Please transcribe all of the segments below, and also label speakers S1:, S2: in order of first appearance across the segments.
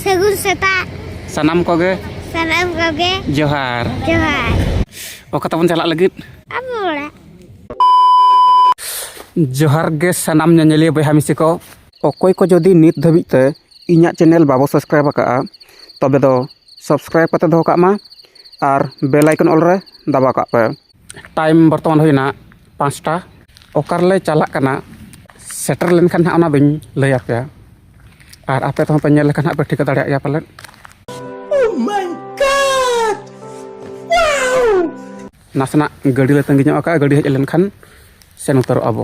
S1: ᱥᱟᱹᱜᱩᱱ ᱥᱮᱛᱟᱜ ᱥᱟᱱᱟᱢ ᱠᱚᱜᱮ
S2: ᱥᱟᱱᱟᱢ ᱠᱚᱜᱮ
S1: ᱡᱚᱦᱟᱨ ᱡᱚᱦᱟᱨ ᱚᱠᱟ ᱛᱟᱵᱚᱱ
S2: ᱪᱟᱞᱟᱜ ᱞᱟᱹᱜᱤᱫ ᱟᱵᱚ ᱚᱲᱟᱜ ᱡᱚᱦᱟᱨ ᱜᱮ ᱥᱟᱱᱟᱢ ᱧᱮᱧᱮᱞᱤᱭᱟᱹ ᱵᱚᱭᱦᱟ ᱢᱤᱥᱤ ᱠᱚ ᱚᱠᱚᱭ ᱠᱚ ᱡᱩᱫᱤ ᱱᱤᱛ ᱫᱷᱟᱹᱵᱤᱡ ᱛᱮ ᱤᱧᱟᱹᱜ ᱪᱮᱱᱮᱞ ᱵᱟᱵᱚ ᱥᱟᱵᱥᱠᱨᱟᱭᱤᱵᱽ ᱟᱠᱟᱫᱼᱟ ᱛᱚᱵᱮ ᱫᱚ ᱥᱟᱵᱥᱠᱨᱟᱭᱤᱵᱽ ᱠᱟᱛᱮ ᱫᱚᱦᱚ ᱠᱟᱜ ᱢᱟ ᱟᱨ ᱵᱮᱞ ᱟᱭᱠᱚᱱ ᱚᱞ ᱨᱮ ᱫᱟᱵᱟᱣ ᱠᱟᱜ ᱯᱮ ᱴᱟᱭᱤᱢ ᱵᱚᱨᱛᱚᱢᱟᱱ ᱦᱩᱭᱱᱟ ᱯᱟᱸᱪᱴᱟ ᱚᱠᱟ ᱨᱮᱞᱮ ᱪᱟᱞᱟᱜ ᱠᱟᱱᱟ ᱥᱮᱴᱮᱨ ᱞᱮᱱᱠᱷᱟᱱ ᱦᱟᱸᱜ ᱚᱱᱟ ᱫᱚᱧ ᱞᱟᱹᱭ ᱟᱯᱮᱭᱟ ᱟᱨ ᱟᱯᱮ ᱛᱮᱦᱚᱸ ᱯᱮ ᱧᱮᱞ ᱞᱮᱠᱷᱟᱱ ᱦᱟᱸᱜ ᱯᱮ ᱴᱷᱤᱠᱟᱹ ᱫᱟᱲᱮᱭᱟᱜ ᱜᱮᱭᱟ ᱯᱟᱞᱮᱫ ᱱᱟᱥᱮᱱᱟᱜ ᱜᱟᱹᱰᱤ ᱞᱮ ᱛᱟᱺᱜᱤ ᱧᱚᱜ ᱟᱠᱟᱫᱼᱟ ᱜᱟᱹᱰᱤ ᱦᱮᱡ ᱞᱮᱱᱠᱷᱟᱱ ᱥᱮᱱ ᱩᱛᱟᱹᱨᱚᱜᱼᱟ ᱵᱚ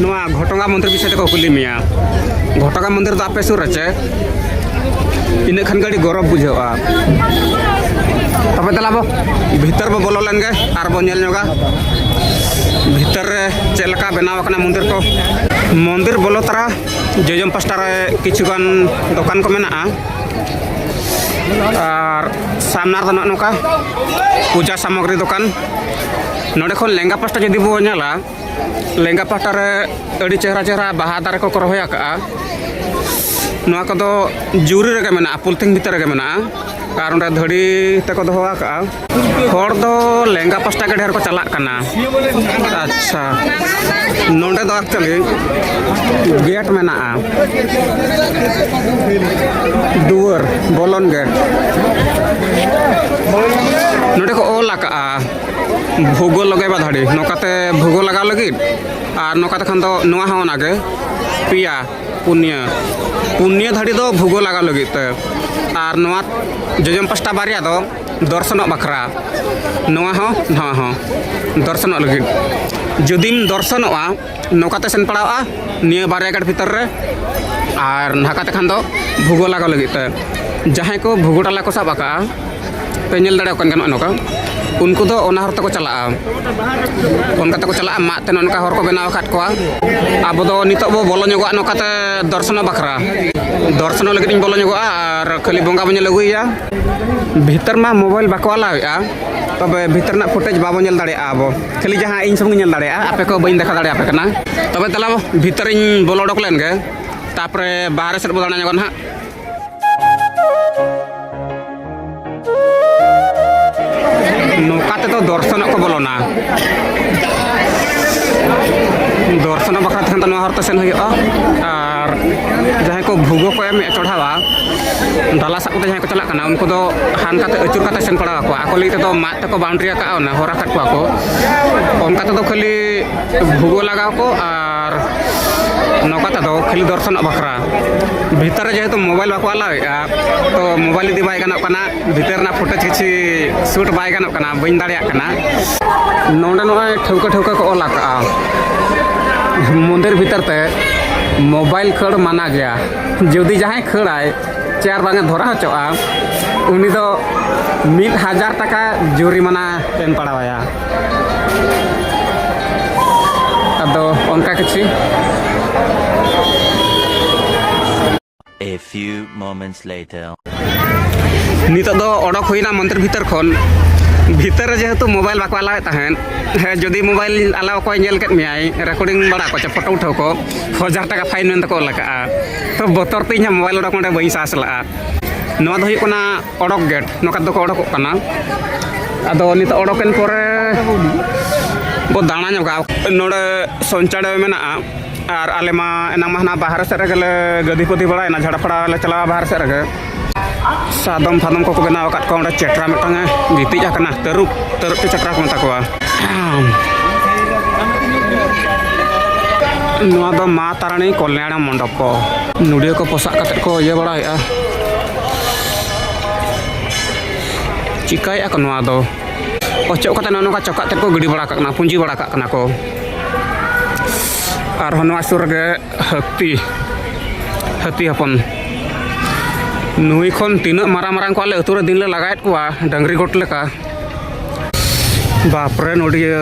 S2: ᱱᱚᱣᱟ ᱜᱷᱚᱴᱚᱜᱟ ᱢᱚᱱᱫᱤᱨ ᱵᱤᱥᱚᱭ ᱛᱮᱠᱚ ᱠᱩᱞᱤ ᱢᱮᱭᱟ ᱜᱷᱚᱴᱚᱜᱟ ᱢᱚᱱᱫᱤᱨ ᱫᱚ ᱟᱯᱮ ᱥᱩᱨ ᱨᱮ ᱪᱮ ᱤᱱᱟᱹ ᱠᱷᱟᱱ ᱜᱮ ᱟᱹᱰᱤ ᱜᱚᱨᱚᱵᱽ ᱵᱩᱡᱷᱟᱹᱜᱼᱟ ᱛᱚᱵᱮ ᱫᱮᱞᱟ ᱵᱚ ᱵᱷᱤᱛᱟᱹᱨ ᱵᱚ ᱵᱚᱞᱚ ᱞᱮᱱ ᱜᱮ ᱟᱨ ᱵᱚ ᱧᱮᱞ ᱧᱚᱜᱟ ᱵᱷᱤᱛᱟᱹᱨ ᱨᱮ ᱪᱮᱫ ᱞᱮᱠᱟ ᱵᱮᱱᱟᱣ ᱟᱠᱟᱱᱟ ᱢᱚᱱᱫᱤᱨ ᱠᱚ ᱢᱚᱱᱫᱤᱨ ᱵᱚᱞᱚ ᱛᱟᱨᱟ ᱡᱚᱡᱚᱢ ᱯᱟᱥᱴᱟ ᱨᱮ ᱠᱤᱪᱷᱩ ᱜᱟᱱ ᱫᱚᱠᱟᱱ ᱠᱚ ᱢᱮᱱᱟᱜᱼᱟ ᱟᱨ ᱥᱟᱢᱱᱟ ᱨᱮᱫᱚ ᱱᱚᱜᱼᱚ ᱱᱚᱝᱠᱟ ᱯᱩᱡᱟ ᱥᱟᱢᱚᱜᱽᱨᱤ ᱫᱚᱠᱟᱱ ᱱᱚᱰᱮ ᱠᱷᱚᱱ ᱞᱮᱸᱜᱟ ᱯᱟᱥᱴᱟ ᱡᱩᱫᱤ ᱵᱚ ᱧᱮᱞᱟ ᱞᱮᱸᱜᱟ ᱯᱟᱦᱴᱟ ᱨᱮ ᱟᱹᱰᱤ ᱪᱮᱦᱨᱟ ᱪᱮᱦᱨᱟ ᱵᱟᱦᱟ ᱫᱟᱨᱮ ᱠᱚᱠᱚ ᱨᱚᱦᱚᱭ ᱟᱠᱟᱫᱼᱟ ᱱᱚᱣᱟ ᱠᱚᱫᱚ ᱡᱩᱨᱤ ᱨᱮᱜᱮ ᱢᱮᱱᱟᱜᱼᱟ ᱯᱚᱞᱛᱷᱤᱱ ᱵᱷᱤᱛᱨᱤ ᱨᱮᱜᱮ ᱢᱮᱱᱟᱜᱼᱟ ᱟᱨ ᱚᱸᱰᱮ ᱫᱷᱟᱹᱲᱤ ᱛᱮᱠᱚ ᱫᱚᱦᱚ ᱟᱠᱟᱫᱼᱟ ᱦᱚᱲ ᱫᱚ ᱞᱮᱸᱜᱟ ᱯᱟᱥᱴᱟ ᱜᱮ ᱰᱷᱮᱨ ᱠᱚ ᱪᱟᱞᱟᱜ ᱠᱟᱱᱟ ᱟᱪᱪᱷᱟ ᱱᱚᱰᱮ ᱫᱚ ᱮᱠᱪᱩᱭᱮᱞᱤ ᱜᱮᱴ ᱢᱮᱱᱟᱜᱼᱟ ᱫᱩᱣᱟᱹᱨ ᱵᱚᱞᱚᱱ ᱜᱮᱴ ᱱᱚᱰᱮ ᱠᱚ ᱚᱞ ᱟᱠᱟᱫᱼᱟ ᱵᱷᱩᱜᱳ ᱞᱟᱜᱟᱣ ᱫᱟᱲᱮ ᱱᱚᱠᱟᱛᱮ ᱵᱷᱩᱜᱳ ᱞᱟᱜᱟᱣ ᱞᱟᱹᱜᱤᱫ ᱟᱨ ᱱᱚᱠᱟᱛᱮ ᱠᱷᱟᱱ ᱫᱚ ᱱᱚᱣᱟ ᱦᱚᱸ ᱚᱱᱟᱜᱮ ᱯᱮᱭᱟ ᱯᱩᱱᱭᱟᱹ ᱯᱩᱱᱭᱟᱹ ᱫᱷᱟᱹᱨᱤ ᱫᱚ ᱵᱷᱩᱜᱳ ᱞᱟᱜᱟᱣ ᱞᱟᱹᱜᱤᱫ ᱛᱮ ᱟᱨ ᱱᱚᱣᱟ ᱡᱚᱡᱚᱢ ᱯᱟᱥᱴᱟ ᱵᱟᱨᱭᱟ ᱫᱚ ᱫᱚᱨᱥᱚᱱᱚᱜ ᱵᱟᱠᱷᱨᱟ ᱱᱚᱣᱟ ᱦᱚᱸ ᱱᱚᱣᱟ ᱦᱚᱸ ᱫᱚᱨᱥᱚᱱᱚᱜ ᱞᱟᱹᱜᱤᱫ ᱡᱩᱫᱤᱢ ᱫᱚᱨᱥᱚᱱᱚᱜᱼᱟ ᱱᱚᱝᱠᱟᱛᱮ ᱥᱮᱱ ᱯᱟᱲᱟᱜᱼᱟ ᱱᱤᱭᱟᱹ ᱵᱟᱨᱭᱟ ᱜᱟᱲ ᱵᱷᱤᱛᱟᱹᱨ ᱨᱮ ᱟᱨ ᱱᱟᱠᱟᱛᱮ ᱠᱷᱟᱱ ᱫᱚ ᱵᱷᱩᱜᱳ ᱞᱟᱜᱟᱣ ᱞᱟᱹᱜᱤᱫ ᱛᱮ ᱡᱟᱦᱟᱸᱭ ᱠᱚ ᱵᱷᱩᱜᱳ ᱰᱟᱞᱟ ᱠᱚ ᱥᱟᱵ ᱟᱠᱟᱜᱼᱟ ᱯᱮ ᱧᱮᱞ ᱫᱟᱲᱮᱭᱟᱠᱚ ᱠᱟᱱ ᱜᱮᱭᱟ ᱱᱚᱜᱼᱚ ᱱᱚᱝᱠᱟ ᱩᱱᱠᱩ ᱫᱚ ᱚᱱᱟ ᱦᱚᱨ ᱛᱮᱠᱚ ᱪᱟᱞᱟᱜᱼᱟ ᱚᱱᱠᱟ ᱛᱮᱠᱚ ᱪᱟᱞᱟᱜᱼᱟ ᱢᱟᱫ ᱛᱮ ᱱᱚᱝᱠᱟ ᱦᱚᱨ ᱠᱚ ᱵᱮᱱᱟᱣ ᱟᱠᱟᱫ ᱠᱚᱣᱟ ᱟᱵᱚ ᱫᱚ ᱱᱤᱛᱚᱜ ᱵᱚ ᱵᱚᱞᱚ ᱧᱚᱜᱚᱜᱼᱟ ᱱᱚᱝᱠᱟᱛᱮ ᱫᱚᱨᱥᱚᱱᱚᱜ ᱵᱟᱠᱷᱨᱟ ᱫᱚᱨᱥᱚᱱᱚᱜ ᱞᱟᱹᱜᱤᱫ ᱤᱧ ᱵᱚᱞᱚ ᱧᱚᱜᱚᱜᱼᱟ ᱟᱨ ᱠᱷᱟᱹᱞᱤ ᱵᱚᱸᱜᱟ ᱵᱚᱱ ᱧᱮᱞ ᱟᱹᱜᱩᱭᱮᱭᱟ ᱵᱷᱤᱛᱟᱹᱨ ᱢᱟ ᱢᱳᱵᱟᱭᱤᱞ ᱵᱟᱠᱚ ᱟᱞᱟᱣᱮᱫᱼᱟ ᱛᱚᱵᱮ ᱵᱷᱤᱛᱟᱹᱨ ᱨᱮᱱᱟᱜ ᱯᱷᱩᱴᱮᱡᱽ ᱵᱟᱵᱚ ᱧᱮᱞ ᱫᱟᱲᱮᱭᱟᱜᱼᱟ ᱟᱵᱚ ᱠᱷᱟᱹᱞᱤ ᱡᱟᱦᱟᱸ ᱤᱧ ᱥᱩᱢᱩᱝ ᱧᱮᱞ ᱫᱟᱲᱮᱭᱟᱜᱼᱟ ᱟᱯᱮ ᱠᱚ ᱵᱟᱹᱧ ᱫᱮᱠᱷᱟᱣ ᱫᱟᱲᱮᱭᱟᱯᱮ ᱠᱟᱱᱟ ᱛᱚᱵᱮ ᱛᱟᱦᱞᱮ ᱵᱷᱤᱛᱟᱹᱨᱤᱧ ᱵᱚᱞᱚ ᱚᱰᱚᱠ ᱞᱮᱱ ᱜᱮ ᱛᱟᱯᱚᱨᱮ ᱵᱟᱦᱨᱮ ᱥᱮᱫ ᱵᱚ ᱫᱟᱬᱟ ᱧᱚᱜᱚᱜᱼᱟ ᱱᱟᱦᱟᱜ ᱱᱚᱝᱠᱟ ᱛᱮᱫᱚ ᱫᱚᱨᱥᱚᱱᱚᱜ ᱠᱚ ᱵᱚᱞᱚᱱᱟ ᱫᱚᱨᱥᱚᱱᱚᱜ ᱵᱟᱠᱷᱨᱟ ᱛᱮᱠᱷᱟᱱ ᱫᱚ ᱱᱚᱣᱟ ᱦᱚᱨᱛᱮ ᱥᱮᱱ ᱦᱩᱭᱩᱜᱼᱟ ᱟᱨ ᱡᱟᱦᱟᱸᱭ ᱠᱚ ᱵᱷᱩᱜᱚ ᱠᱚ ᱮᱢᱮᱫ ᱪᱚᱲᱦᱟᱣᱟ ᱰᱟᱞᱟ ᱥᱟᱵ ᱠᱟᱛᱮ ᱡᱟᱦᱟᱸᱭ ᱠᱚ ᱪᱟᱞᱟᱜ ᱠᱟᱱᱟ ᱩᱱᱠᱩ ᱫᱚ ᱦᱟᱱᱠᱟᱛᱮ ᱟᱹᱪᱩᱨ ᱠᱟᱛᱮ ᱥᱮᱱ ᱯᱟᱲᱟᱣ ᱟᱠᱚᱣᱟ ᱟᱠᱚ ᱞᱟᱹᱜᱤᱫ ᱛᱮᱫᱚ ᱢᱟᱫ ᱛᱮᱠᱚ ᱵᱟᱣᱩᱱᱰᱨᱤ ᱟᱠᱟᱫ ᱚᱱᱟ ᱦᱚᱨ ᱟᱠᱟᱫ ᱠᱚᱣᱟ ᱠᱚ ᱚᱱᱠᱟ ᱛᱮᱫᱚ ᱠᱷᱟᱹᱞᱤ ᱵᱷᱩᱜᱚ ᱞᱟᱜᱟᱣ ᱠᱚ ᱟᱨ ᱱᱚᱝᱠᱟ ᱛᱮᱫᱚ ᱠᱷᱟᱹᱞᱤ ᱫᱚᱨᱥᱚᱱᱚᱜ ᱵᱟᱠᱷᱨᱟ ᱵᱷᱤᱛᱟᱹᱨ ᱨᱮ ᱡᱮᱦᱮᱛᱩ ᱢᱳᱵᱟᱭᱤᱞ ᱵᱟᱠᱚ ᱟᱞᱟᱣᱮᱫᱼᱟ ᱛᱚ ᱢᱳᱵᱟᱭᱤᱞ ᱤᱫᱤ ᱵᱟᱭ ᱜᱟᱱᱚᱜ ᱠᱟᱱᱟ ᱵᱷᱤᱛᱟᱹᱨ ᱨᱮᱱᱟᱜ ᱯᱷᱩᱴᱮᱡᱽ ᱠᱤᱪᱷᱩ ᱥᱩᱴ ᱵᱟᱭ ᱜᱟᱱᱚᱜ ᱠᱟᱱᱟ ᱵᱟᱹᱧ ᱫᱟᱲᱮᱭᱟᱜ ᱠᱟᱱᱟ ᱱᱚᱰᱮ ᱱᱚᱜᱼᱚᱭ ᱴᱷᱟᱹᱣᱠᱟᱹ ᱴᱷᱟᱹᱣᱠᱟᱹ ᱠᱚ ᱚᱞ ᱟᱠᱟᱜᱼᱟ ᱢᱚᱱᱫᱤᱨ ᱵᱷᱤᱛᱟᱹᱨ ᱛᱮ ᱢᱳᱵᱟᱭᱤᱞ ᱠᱷᱟᱹᱲ ᱢᱟᱱᱟ ᱜᱮᱭᱟ ᱡᱩᱫᱤ ᱡᱟᱦᱟᱸᱭ ᱠᱷᱟᱹᱲᱟᱭ ᱪᱮᱭᱟᱨ ᱵᱟᱝ ᱫᱷᱚᱨᱟ ᱦᱚᱪᱚᱜᱼᱟ ᱩᱱᱤ ᱫᱚ ᱢᱤᱫ ᱦᱟᱡᱟᱨ ᱴᱟᱠᱟ ᱡᱩᱨᱤᱢᱟᱱᱟ ᱮᱢ ᱯᱟᱲᱟᱣᱟᱭᱟ ᱟᱫᱚ ᱚᱱᱠᱟ ᱠᱤᱪᱷᱩ
S3: A few moments later.
S2: ᱱᱤᱛᱚᱜ ᱫᱚ ᱚᱰᱚᱠ ᱦᱩᱭᱱᱟ ᱢᱚᱱᱫᱤᱨ ᱵᱷᱤᱛᱟᱹᱨ ᱠᱷᱚᱱ ᱵᱷᱤᱛᱟᱹᱨ ᱨᱮ ᱡᱮᱦᱮᱛᱩ ᱢᱳᱵᱟᱭᱤᱞ ᱵᱟᱠᱚ ᱟᱞᱟᱣᱮᱫ ᱛᱟᱦᱮᱸᱫ ᱦᱮᱸ ᱡᱩᱫᱤ ᱢᱳᱵᱟᱭᱤᱞ ᱟᱞᱟᱣ ᱠᱚᱭ ᱧᱮᱞ ᱠᱮᱫ ᱢᱮᱭᱟᱭ ᱨᱮᱠᱚᱨᱰᱤᱝ ᱵᱟᱲᱟ ᱠᱚ ᱪᱮ ᱯᱷᱳᱴᱳ ᱩᱴᱷᱟᱹᱣ ᱠᱚ ᱦᱟᱡᱟᱨ ᱴᱟᱠᱟ ᱯᱷᱟᱭᱤᱱ ᱢᱮᱱᱛᱮ ᱠᱚ ᱚᱞ ᱟᱠᱟᱫᱼᱟ ᱛᱚ ᱵᱚᱛᱚᱨ ᱛᱮ ᱤᱧᱟᱹᱜ ᱢᱳᱵᱟᱭᱤᱞ ᱚᱰᱚᱠ ᱚᱸᱰᱮ ᱵᱟᱹᱧ ᱥᱟᱦᱟᱥ ᱞᱟᱜᱼᱟ ᱱᱚᱣᱟ ᱫᱚ ᱦᱩᱭᱩᱜ ᱠᱟᱱᱟ ᱚᱰᱚᱠ ᱜᱮᱴ ᱱᱚᱝᱠᱟ ᱫᱚᱠᱚ ᱚᱰᱚᱠᱚᱜ ᱠᱟᱱᱟ ᱟᱫᱚ ᱱᱤᱛᱚᱜ ᱚᱰᱚᱠᱮᱱ ᱯᱚᱨᱮ ᱵᱚ ᱫᱟᱬᱟ ᱧᱚᱜᱟ ᱱᱚᱰᱮ ᱥᱚᱧᱪᱟᱲᱮ ᱢᱮᱱᱟᱜᱼᱟ ᱟᱨ ᱟᱞᱮ ᱢᱟ ᱮᱱᱟᱝ ᱢᱟ ᱦᱟᱱᱟ ᱵᱟᱦᱨᱮ ᱥᱮᱫ ᱨᱮᱜᱮ ᱞᱮ ᱜᱟᱹᱫᱤ ᱯᱟᱹᱫᱤ ᱵᱟᱲᱟᱭᱮᱱᱟ ᱡᱷᱟᱲᱟᱯᱟᱲᱟ ᱞᱮ ᱪᱟᱞᱟᱣᱟ ᱵᱟᱦᱨᱮ ᱥᱮᱫ ᱨᱮᱜᱮ ᱥᱟᱫᱚᱢ ᱯᱷᱟᱫᱚᱢ ᱠᱚᱠᱚ ᱵᱮᱱᱟᱣ ᱟᱠᱟᱫ ᱠᱚᱣᱟ ᱚᱸᱰᱮ ᱪᱮᱴᱨᱟ ᱢᱤᱫᱴᱟᱝ ᱮ ᱜᱤᱛᱤᱡ ᱟᱠᱟᱱᱟ ᱛᱟᱹᱨᱩᱵ ᱛᱟᱹᱨᱩᱵ ᱛᱮ ᱪᱮᱴᱨᱟ ᱠᱚ ᱢᱮᱛᱟ ᱠᱚᱣᱟ ᱱᱚᱣᱟ ᱫᱚ ᱢᱟ ᱛᱟᱨᱟᱱᱤ ᱠᱚᱞᱭᱟᱬ ᱢᱚᱱᱰᱚᱯ ᱠᱚ ᱱᱩᱰᱤᱭᱟᱹ ᱠᱚ ᱯᱚᱥᱟᱜ ᱠᱟᱛᱮᱫ ᱠᱚ ᱤᱭᱟᱹ ᱵᱟᱲᱟᱭᱮᱫᱼᱟ ᱪᱤᱠᱟᱹᱭᱮᱫᱼᱟ ᱠᱚ ᱱᱚᱣᱟ ᱫᱚ ᱚᱪᱚᱜ ᱠᱟᱛᱮᱫ ᱱᱚᱜᱼᱚ ᱱᱚᱝᱠᱟ ᱪᱚᱠᱟᱜ ᱛᱮᱫ ᱠᱚ ᱜᱤᱰᱤ ᱵᱟᱲᱟ ᱠᱟᱜ ᱠᱟᱱᱟ ᱯᱩᱸᱡᱤ ᱵᱟᱲᱟ ᱠᱟᱜ ᱠᱟᱱᱟ ᱠᱚ ᱟᱨᱦᱚᱸ ᱱᱚᱣᱟ ᱥᱩᱨ ᱨᱮᱜᱮ ᱦᱟᱹᱛᱤ ᱦᱟᱹᱛᱤ ᱦᱚᱯᱚᱱ ᱱᱩᱭ ᱠᱷᱚᱱ ᱛᱤᱱᱟᱹᱜ ᱢᱟᱨᱟᱝ ᱢᱟᱨᱟᱝ ᱠᱚ ᱟᱞᱮ ᱟᱹᱛᱩ ᱨᱮ ᱫᱤᱱ ᱞᱮ ᱞᱟᱜᱟᱭᱮᱫ ᱠᱚᱣᱟ ᱰᱟᱹᱝᱨᱤ ᱜᱚᱴ ᱞᱮᱠᱟ ᱵᱟᱯᱨᱮ ᱱᱚᱰᱤᱭᱟᱹ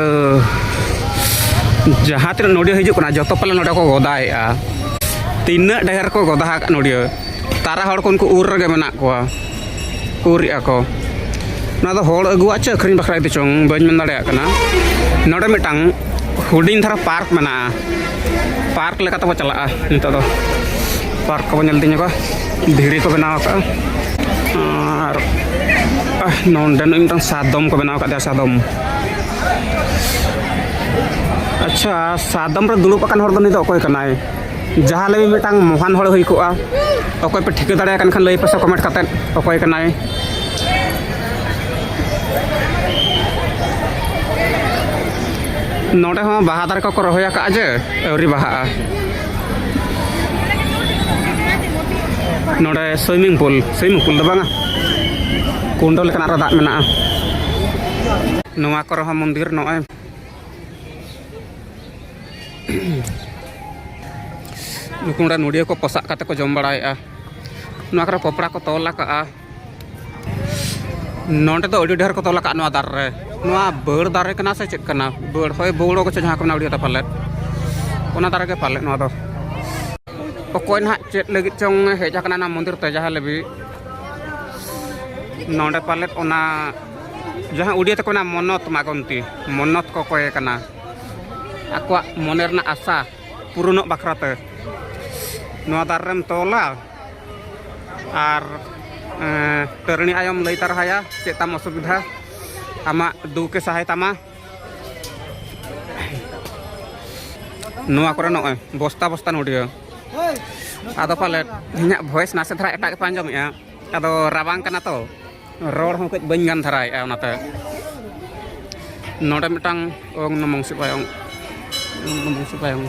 S2: ᱡᱟᱦᱟᱸ ᱛᱤᱱᱟᱹᱜ ᱱᱚᱰᱤᱭᱟᱹ ᱦᱤᱡᱩᱜ ᱠᱟᱱᱟ ᱡᱚᱛᱚ ᱯᱟᱞᱮ ᱱᱚᱰᱮ ᱠᱚ ᱜᱚᱫᱟᱭᱮᱜᱼᱟ ᱛᱤᱱᱟᱹᱜ ᱰᱷᱮᱨ ᱠᱚ ᱜᱚᱫᱟ ᱟᱠᱟᱫ ᱱᱚᱰᱤᱭᱟᱹ ᱛᱟᱨᱟ ᱦᱚᱲ ᱠᱚ ᱩᱱᱠᱩ ᱩᱨ ᱨᱮᱜᱮ ᱢᱮᱱᱟᱜ ᱠᱚᱣᱟ ᱩᱨᱮᱜᱼᱟ ᱠᱚ ᱱᱚᱣᱟ ᱫᱚ ᱦᱚᱲ ᱟᱹᱜᱩᱣᱟᱜ ᱪᱮ ᱟᱹᱠᱷᱨᱤᱧ ᱵᱟᱠᱷᱨᱟ ᱤᱫᱤ ᱪᱚᱝ ᱵᱟᱹᱧ ᱢᱮᱱ ᱫᱟᱲᱮᱭᱟᱜ ᱠᱟᱱᱟ ᱱᱚᱰᱮ ᱢᱤᱫᱴᱟᱝ ᱦᱩᱰᱤᱧ ᱫᱷᱟᱨᱟ ᱯᱟᱨᱠ ᱢᱮᱱᱟᱜᱼᱟ ᱯᱟᱨᱠ ᱞᱮᱠᱟ ᱛᱮᱵᱚ ᱪᱟᱞᱟᱜᱼᱟ ᱱᱤᱛᱚᱜ ᱫᱚ ᱯᱟᱨᱠ ᱠᱚᱵᱚ ᱧᱮᱞ ᱤᱫᱤ ᱧᱚᱜᱟ ᱫᱷᱤᱨᱤ ᱠᱚ ᱵᱮᱱᱟᱣ ᱟᱠᱟᱫᱼᱟ ᱟᱨ ᱱᱚᱰᱮ ᱢᱤᱫᱴᱟᱝ ᱥᱟᱫᱚᱢ ᱠᱚ ᱵᱮᱱᱟᱣ ᱟᱠᱟᱫᱮᱭᱟ ᱥᱟᱫᱚᱢ ᱟᱪᱪᱷᱟ ᱥᱟᱫᱚᱢ ᱨᱮ ᱫᱩᱲᱩᱵ ᱟᱠᱟᱱ ᱦᱚᱲ ᱫᱚ ᱱᱩᱭ ᱫᱚ ᱚᱠᱚᱭ ᱠᱟᱱᱟᱭ ᱡᱟᱦᱟᱸ ᱞᱟᱹᱜᱤᱫ ᱢᱤᱫᱴᱟᱝ ᱢᱚᱦᱟᱱ ᱦᱚᱲ ᱦᱩᱭ ᱠᱚᱜᱼᱟ ᱚᱠᱚᱭ ᱯᱮ ᱴᱷᱤᱠᱟᱹ ᱫᱟᱲᱮᱭᱟᱜ ᱠᱟᱱ ᱠᱷᱟᱱ ᱞᱟᱹᱭ ᱯᱮᱥᱮ ᱠᱚᱢᱮᱱᱴ ᱠᱟᱛᱮ ᱚᱠᱚᱭ ᱠᱟᱱᱟᱭ ᱱᱚᱰᱮ ᱦᱚᱸ ᱵᱟᱦᱟ ᱫᱟᱨᱮ ᱠᱚᱠᱚ ᱨᱚᱦᱚᱭ ᱟᱠᱟᱫᱼᱟ ᱡᱮ ᱟᱹᱣᱨᱤ ᱵᱟᱦᱟᱜᱼᱟ ᱱᱚᱰᱮ ᱥᱩᱭᱢᱤᱝ ᱯᱩᱞ ᱥᱩᱭᱢᱤᱝ ᱯᱩᱞ ᱫᱚ ᱵᱟᱝᱟ ᱠᱩᱸᱰᱚ ᱞᱮᱠᱟᱱᱟᱜ ᱨᱮ ᱫᱟᱜ ᱢᱮᱱᱟᱜᱼᱟ ᱱᱚᱣᱟ ᱠᱚᱨᱮ ᱦᱚᱸ ᱢᱚᱱᱫᱤᱨ ᱱᱚᱜᱼᱚᱭ ᱱᱩᱠᱩ ᱱᱚᱰᱮ ᱱᱚᱰᱤᱭᱟᱹ ᱠᱚ ᱯᱚᱥᱟᱜ ᱠᱟᱛᱮ ᱠᱚ ᱡᱚᱢ ᱵᱟᱲᱟᱭᱮᱫᱼᱟ ᱱᱚᱣᱟ ᱠᱚᱨᱮ ᱠᱚᱯᱲᱟ ᱠᱚ ᱛᱚᱞ ᱟᱠᱟᱫᱼᱟ ᱱᱚᱰᱮ ᱫᱚ ᱟᱹᱰᱤ ᱰᱷᱮᱨ ᱠᱚ ᱛᱚᱞ ᱟᱠᱟᱫ ᱱᱚᱣᱟ ᱫᱟᱨᱮ ᱨᱮ ᱱᱚᱣᱟ ᱵᱟᱹᱲ ᱫᱟᱨᱮ ᱠᱟᱱᱟ ᱥᱮ ᱪᱮᱫ ᱠᱟᱱᱟ ᱵᱟᱹᱲ ᱦᱳᱭ ᱵᱟᱹᱣᱲᱚ ᱠᱚ ᱪᱮᱫ ᱡᱟᱦᱟᱸ ᱠᱚ ᱢᱮᱱᱟ ᱩᱲᱤᱭᱟ ᱫᱚ ᱯᱟᱞᱮᱫ ᱚᱱᱟ ᱫᱟᱨᱮ ᱜᱮ ᱯᱟᱞᱮᱫ ᱱᱚᱣᱟ ᱫᱚ ᱚᱠᱚᱭ ᱱᱟᱦᱟᱜ ᱪᱮᱫ ᱞᱟᱹᱜᱤᱫ ᱪᱚᱝ ᱦᱮᱡ ᱟᱠᱟᱱᱟ ᱱᱚᱣᱟ ᱢᱚᱱᱫᱤᱨ ᱛᱮ ᱡᱟᱦᱟᱸ ᱞᱟᱹᱜᱤᱫ ᱱᱚᱰᱮ ᱯᱟᱞᱮᱫ ᱚᱱᱟ ᱡᱟᱦᱟᱸ ᱩᱰᱤᱭᱟ ᱛᱮᱠᱚ ᱢᱮᱱᱟ ᱢᱚᱱᱚᱛ ᱢᱟᱜᱚᱱᱛᱤ ᱢᱚᱱᱚᱛ ᱠᱚ ᱠᱚᱭᱮ ᱠᱟᱱᱟ ᱟᱠᱚᱣᱟᱜ ᱢᱚᱱᱮ ᱨᱮᱱᱟᱜ ᱟᱥᱟ ᱯᱩᱨᱩᱱᱚᱜ ᱵᱟᱠᱷᱨᱟᱛᱮ ᱱᱚᱣᱟ ᱫᱟᱨᱮ ᱨᱮᱢ ᱛᱚᱞᱟ ᱟᱨ ᱛᱟᱹᱨᱤᱬᱤ ᱟᱭᱚᱢ ᱞᱟᱹᱭ ᱛᱟᱨᱦᱟᱭᱟ ᱪᱮᱫ ᱛᱟᱢ ᱚᱥᱩᱵᱤᱫᱷᱟ ᱟᱢᱟᱜ ᱫᱩᱠᱮ ᱥᱟᱦᱟᱭ ᱛᱟᱢᱟ ᱱᱚᱣᱟ ᱠᱚᱨᱮ ᱱᱚᱜᱼᱚᱭ ᱵᱚᱥᱛᱟ ᱵᱚᱥᱛᱟ ᱱᱩᱰᱤᱭᱟᱹ ᱟᱫᱚ ᱯᱟᱞᱮᱫ ᱤᱧᱟᱹᱜ ᱵᱷᱚᱭᱮᱥ ᱱᱟᱥᱮ ᱫᱷᱟᱨᱟ ᱮᱴᱟᱜ ᱜᱮᱯᱮ ᱟᱸᱡᱚᱢᱮᱜᱼᱟ ᱟᱫᱚ ᱨᱟᱵᱟᱝ ᱠᱟᱱᱟ ᱛᱚ ᱨᱚᱲ ᱦᱚᱸ ᱠᱟᱹᱡ ᱵᱟᱹᱧ ᱜᱟᱱ ᱫᱷᱟᱨᱟᱭᱮᱫᱼᱟ ᱚᱱᱟᱛᱮ ᱱᱚᱰᱮ ᱢᱤᱫᱴᱟᱝ ᱚᱝ ᱱᱚᱢᱚᱝ ᱥᱤᱵᱟᱭ ᱚᱝ ᱱᱚᱢᱚᱝ ᱥᱤᱵᱟᱭ ᱚᱝ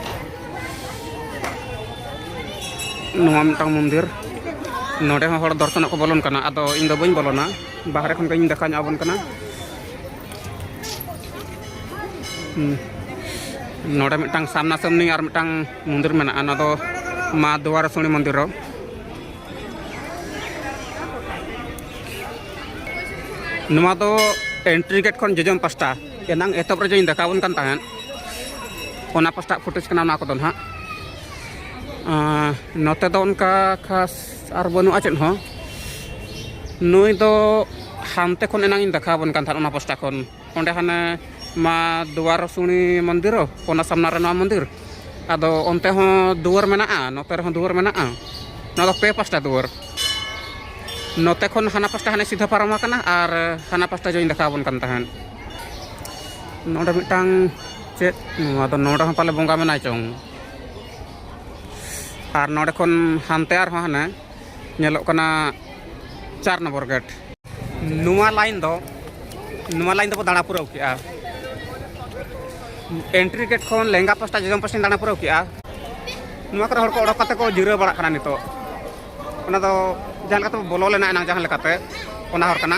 S2: ᱱᱚᱣᱟ ᱢᱤᱫᱴᱟᱝ ᱢᱚᱱᱫᱤᱨ ᱱᱚᱰᱮ ᱦᱚᱸ ᱦᱚᱲ ᱫᱚᱨᱥᱚᱱᱚᱜ ᱠᱚ ᱵᱚᱞᱚᱱ ᱠᱟᱱᱟ ᱟᱫᱚ ᱤᱧ ᱫᱚ ᱵᱟᱹᱧ ᱵᱚᱞᱚᱱᱟ ᱵᱟᱦᱨᱮ ᱠᱷᱚᱱ ᱜᱤᱧ ᱫᱮᱠᱷᱟᱣ ᱧᱚᱜ ᱟᱵᱚᱱ ᱠᱟᱱᱟ ᱱᱚᱰᱮ ᱢᱤᱫᱴᱟᱝ ᱥᱟᱢᱱᱟ ᱥᱟᱢᱱᱤ ᱟᱨ ᱢᱤᱫᱴᱟᱝ ᱢᱚᱱᱫᱤᱨ ᱢᱮᱱᱟᱜᱼᱟ ᱱᱚᱣᱟ ᱫᱚ ᱢᱟ ᱫᱩᱣᱟᱨᱟᱥᱚᱱᱤ ᱢᱚᱱᱫᱤᱨ ᱨᱮ ᱱᱚᱣᱟ ᱫᱚ ᱮᱱᱴᱨᱤ ᱜᱮᱴ ᱠᱷᱚᱱ ᱡᱚᱡᱚᱢ ᱯᱟᱥᱴᱟ ᱮᱱᱟᱝ ᱮᱛᱚᱦᱚᱵ ᱨᱮ ᱡᱮᱧ ᱫᱮᱠᱷᱟᱣᱵᱚᱱ ᱠᱟᱱ ᱛᱟᱦᱮᱸᱫ ᱚᱱᱟ ᱯᱟᱥᱴᱟ ᱯᱷᱩᱴᱮᱡᱽ ᱠᱟᱱᱟ ᱚᱱᱟ ᱠᱚᱫᱚ ᱱᱟᱦᱟᱜ ᱱᱚᱛᱮ ᱫᱚ ᱚᱱᱠᱟ ᱠᱷᱟᱥ ᱟᱨ ᱵᱟᱹᱱᱩᱜᱼᱟ ᱪᱮᱫ ᱦᱚᱸ ᱱᱩᱭ ᱫᱚ ᱦᱟᱱᱛᱮ ᱠᱷᱚᱱ ᱮᱱᱟᱝ ᱤᱧ ᱫᱮᱠᱷᱟᱣᱵᱚᱱ ᱠᱟᱱ ᱛᱟᱦᱮᱸᱫ ᱚᱱᱟ ᱯᱟᱥᱴᱟ ᱠᱷᱚᱱ ᱚᱸᱰᱮ ᱦᱟᱱᱮ ᱢᱟ ᱫᱩᱣᱟᱨ ᱥᱩᱱᱤ ᱢᱚᱱᱫᱤᱨ ᱚᱱᱟ ᱥᱟᱢᱱᱟ ᱨᱮ ᱱᱚᱣᱟ ᱢᱚᱱᱫᱤᱨ ᱟᱫᱚ ᱚᱱᱛᱮ ᱦᱚᱸ ᱫᱩᱣᱟᱹᱨ ᱢᱮᱱᱟᱜᱼᱟ ᱱᱚᱛᱮ ᱨᱮᱦᱚᱸ ᱫᱩᱣᱟᱹᱨ ᱢᱮᱱᱟᱜᱼᱟ ᱱᱚᱣᱟ ᱫᱚ ᱯᱮ ᱯᱟᱥᱴᱟ ᱫᱩᱣᱟᱹᱨ ᱱᱚᱛᱮ ᱠᱷᱚᱱ ᱦᱟᱱᱟ ᱯᱟᱥᱴᱟ ᱦᱟᱱᱮ ᱥᱤᱫᱷᱟᱹ ᱯᱟᱨᱚᱢ ᱟᱠᱟᱱᱟ ᱟᱨ ᱦᱟᱱᱟ ᱯᱟᱥᱴᱟ ᱡᱚᱧ ᱫᱮᱠᱷᱟᱣ ᱟᱵᱚᱱ ᱠᱟᱱ ᱛᱟᱦᱮᱸᱫ ᱱᱚᱰᱮ ᱢᱤᱫᱴᱟᱝ ᱪᱮᱫ ᱱᱚᱣᱟ ᱫᱚ ᱱᱚᱰᱮ ᱦᱚᱸ ᱯᱟᱞᱮ ᱵᱚᱸᱜᱟ ᱢᱮᱱᱟᱭ ᱪᱚᱝ ᱟᱨ ᱱᱚᱰᱮ ᱠᱷᱚᱱ ᱦᱟᱱᱛᱮ ᱟᱨᱦᱚᱸ ᱦᱟᱱᱮ ᱧᱮᱞᱚᱜ ᱠᱟᱱᱟ ᱪᱟᱨ ᱱᱚᱢᱵᱚᱨ ᱜᱮᱴ ᱱᱚᱣᱟ ᱞᱟᱭᱤᱱ ᱫᱚ ᱱᱚᱣᱟ ᱞᱟᱭᱤᱱ ᱫᱚᱵᱚ ᱫᱟᱬᱟ ᱯᱩᱨᱟᱹᱣ ᱠᱮᱜᱼᱟ ᱮᱱᱴᱨᱤ ᱜᱮᱴ ᱠᱷᱚᱱ ᱞᱮᱸᱜᱟ ᱯᱟᱥᱴᱟ ᱡᱚᱡᱚᱢ ᱯᱟᱥᱴᱟᱧ ᱫᱟᱬᱟ ᱯᱩᱨᱟᱹᱣ ᱠᱮᱜᱼᱟ ᱱᱚᱣᱟ ᱠᱚᱨᱮ ᱦᱚᱲ ᱠᱚ ᱚᱰᱚᱠ ᱠᱟᱛᱮ ᱠᱚ ᱡᱤᱨᱟᱹᱣ ᱵᱟᱲᱟᱜ ᱠᱟᱱᱟ ᱱᱤᱛᱚᱜ ᱚᱱᱟ ᱫᱚ ᱡᱟᱦᱟᱸ ᱞᱮᱠᱟᱛᱮ ᱵᱚᱞᱚ ᱞᱮᱱᱟ ᱮᱱᱟᱝ ᱡᱟᱦᱟᱸ ᱞᱮᱠᱟᱛᱮ ᱚᱱᱟ ᱦᱚᱨ ᱠᱟᱱᱟ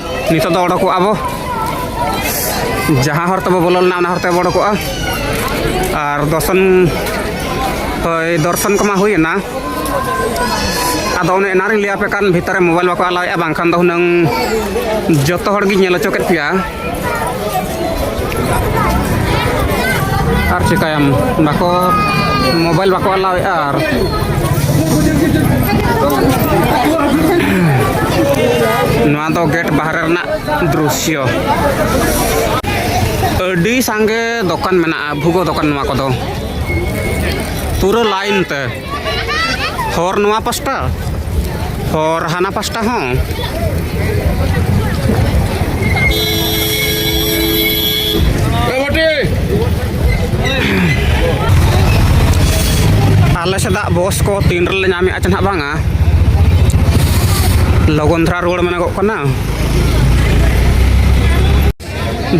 S2: ᱱᱤᱛᱚᱜ ᱫᱚ ᱚᱰᱚᱠᱚᱜᱼᱟ ᱵᱚ ᱡᱟᱦᱟᱸ ᱦᱚᱨ ᱛᱮᱵᱚ ᱵᱚᱞᱚ ᱞᱮᱱᱟ ᱚᱱᱟ ᱦᱚᱨ ᱛᱮᱵᱚ ᱚᱰᱚᱠᱚᱜᱼᱟ ᱟᱨ ᱫᱚᱨᱥᱚᱱ ᱦᱳᱭ ᱫᱚᱨᱥᱚᱱ ᱠᱚᱢᱟ ᱦᱩᱭᱮᱱᱟ ᱟᱫᱚ ᱚᱱᱮ ᱮᱱᱟᱨᱤᱧ ᱞᱟᱹᱭ ᱟᱯᱮ ᱠᱟᱱ ᱵᱷᱤᱛᱟᱨ ᱨᱮ ᱢᱳᱵᱟᱭᱤᱞ ᱵᱟᱠᱚ ᱟᱞᱟᱣᱮᱫᱼᱟ ᱵᱟᱝᱠᱷᱟᱱ ᱫᱚ ᱦᱩᱱᱟᱹᱝ ᱡᱚᱛᱚ ᱦᱚᱲ ᱜᱤᱧ ᱧᱮᱞ ᱦᱚᱪᱚ ᱠᱮᱫ ᱯᱮᱭᱟ ᱟᱨ ᱪᱤᱠᱟᱹᱭᱟᱢ ᱵᱟᱠᱚ ᱢᱳᱵᱟᱭᱤᱞ ᱵᱟᱠᱚ ᱟᱞᱟᱣᱮᱫᱼᱟ ᱟᱨ ᱱᱚᱣᱟ ᱫᱚ ᱜᱮᱴ ᱵᱟᱦᱨᱮ ᱨᱮᱱᱟᱜ ᱫᱨᱩᱥᱭᱚ ᱟᱹᱰᱤ ᱥᱟᱸᱜᱮ ᱫᱚᱠᱟᱱ ᱢᱮᱱᱟᱜᱼᱟ ᱵᱷᱩᱜᱳ ᱫᱚᱠᱟᱱ ᱱᱚᱣᱟ ᱠᱚᱫᱚ ᱯᱩᱨᱟᱹ ᱞᱟᱭᱤᱱ ᱛᱮ ᱦᱚᱨ ᱱᱚᱣᱟ ᱯᱟᱥᱴᱟ ᱦᱚᱨ ᱦᱟᱱᱟ ᱯᱟᱥᱴᱟ ᱦᱚᱸ ᱟᱞᱮ ᱥᱮᱫᱟᱜ ᱵᱚᱥ ᱠᱚ ᱛᱤᱱ ᱨᱮᱞᱮ ᱧᱟᱢᱮᱫᱼᱟ ᱪᱮ ᱱᱟᱦᱟᱜ ᱵᱟᱝᱟ ᱞᱚᱜᱚᱱ ᱫᱷᱟᱨᱟ ᱨᱩᱣᱟᱹᱲ ᱢᱮᱱᱚᱜᱚᱜ ᱠᱟᱱᱟ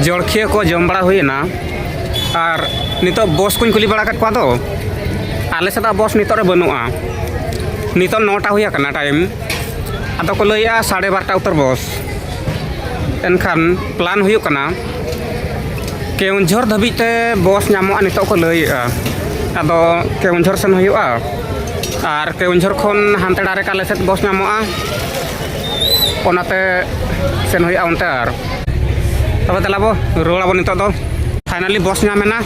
S2: ᱡᱚᱲᱠᱷᱤᱭᱟᱹ ᱠᱚ ᱡᱚᱢ ᱵᱟᱲᱟ ᱦᱩᱭᱮᱱᱟ ᱟᱨ ᱱᱤᱛᱚᱜ ᱵᱚᱥ ᱠᱚᱧ ᱠᱩᱞᱤ ᱵᱟᱲᱟ ᱠᱟᱫ ᱠᱚᱣᱟ ᱫᱚ ᱟᱞᱮ ᱥᱮᱫ ᱵᱚᱥ ᱱᱤᱛᱚᱜ ᱨᱮ ᱵᱟᱹᱱᱩᱜᱼᱟ ᱱᱤᱛᱚᱜ ᱱᱚᱴᱟ ᱦᱩᱭ ᱟᱠᱟᱱᱟ ᱴᱟᱭᱤᱢ ᱟᱫᱚ ᱠᱚ ᱞᱟᱹᱭᱮᱜᱼᱟ ᱥᱟᱲᱮ ᱵᱟᱨᱚᱴᱟ ᱩᱛᱟᱹᱨ ᱵᱚᱥ ᱮᱱᱠᱷᱟᱱ ᱯᱞᱟᱱ ᱦᱩᱭᱩᱜ ᱠᱟᱱᱟ ᱠᱮᱣᱡᱷᱚᱨ ᱫᱷᱟᱹᱵᱤᱡ ᱛᱮ ᱵᱚᱥ ᱧᱟᱢᱚᱜᱼᱟ ᱱᱤᱛᱚᱜ ᱠᱚ ᱞᱟᱹᱭᱮᱜᱼᱟ ᱟᱫᱚ ᱠᱮᱣᱡᱷᱚᱨ ᱥᱮᱱ ᱦᱩᱭᱩᱜᱼᱟ ᱟᱨ ᱠᱮᱣᱡᱷᱚᱨ ᱠᱷᱚᱱ ᱦᱟᱱᱛᱮ ᱰᱟᱭᱨᱮᱠᱴ ᱟᱞᱮ ᱥᱮᱫ ᱵᱚᱥ ᱧᱟᱢᱚᱜᱼᱟ ᱚᱱᱟᱛᱮ ᱥᱮᱱ ᱦᱩᱭᱩᱜᱼᱟ ᱚᱱᱛᱮ ᱟᱨ ᱛᱚᱵᱮ ᱫᱮᱞᱟ ᱵᱚ ᱨᱩᱣᱟᱹᱲ ᱟᱵᱚ ᱱᱤᱛᱚᱜ ᱫᱚ ᱯᱷᱟᱭᱱᱟᱞᱤ ᱵᱚᱥ ᱧᱟᱢ ᱮᱱᱟ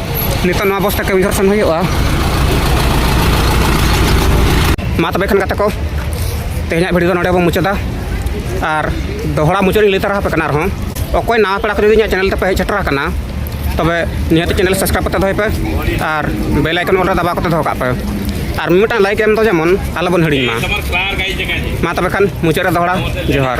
S2: ᱱᱤᱛᱚᱜ ᱱᱚᱣᱟ ᱵᱚᱥ ᱛᱮ ᱠᱮᱣᱡᱷᱚᱨ ᱥᱮᱱ ᱦᱩᱭᱩᱜᱼᱟ ᱢᱟ ᱛᱚᱵᱮ ᱠᱷᱟᱱ ᱜᱟᱛᱮ ᱠᱚ ᱛᱮᱦᱮᱧᱟᱜ ᱵᱷᱤᱰᱤᱭᱳ ᱫᱚ ᱱᱚᱰᱮ ᱵᱚ ᱢᱩᱪᱟᱹᱫᱟ ᱟᱨ ᱫᱚᱦᱲᱟ ᱢᱩᱪᱟᱹᱫ ᱤᱧ ᱞᱟᱹᱭ ᱛᱟᱨᱟ ᱟᱯᱮ ᱠᱟᱱᱟ ᱟᱨᱦᱚᱸ ᱚᱠᱚᱭ ᱱᱟᱣᱟ ᱯᱮᱲᱟ ᱠᱚ ᱡᱩᱫᱤ ᱤᱧᱟᱹᱜ ᱪᱮᱱᱮᱞ ᱛᱮᱯᱮ ᱦᱮᱡ ᱥᱮᱴᱮᱨ ᱟᱠᱟᱱᱟ ᱛᱚᱵᱮ ᱱᱤᱦᱟᱹᱛ ᱪᱮᱱᱮᱞ ᱥᱟᱵᱥᱠᱨᱟᱭᱤᱵ ᱠᱟᱛᱮ ᱫᱚᱦᱚᱭ ᱯᱮ ᱟᱨ ᱵᱮᱞ ᱟᱭᱠᱚᱱ ᱚᱞ ᱨᱮ ᱫᱟᱵᱟᱣ ᱠᱟᱛᱮ ᱫᱚᱦᱚ ᱠᱟᱜ ᱯᱮ ᱟᱨ ᱢᱤᱫᱴᱟᱝ ᱞᱟᱭᱤᱠ ᱮᱢ ᱫᱚ ᱡᱮᱢᱚᱱ ᱟᱞᱚᱵᱚᱱ ᱦᱤᱲᱤᱧ ᱢᱟ ᱢᱟ ᱛᱚᱵᱮ ᱠᱷᱟᱱ ᱢᱩᱪᱟᱹᱫ ᱨᱮ ᱫᱚᱦᱲᱟ ᱡᱚᱦᱟᱨ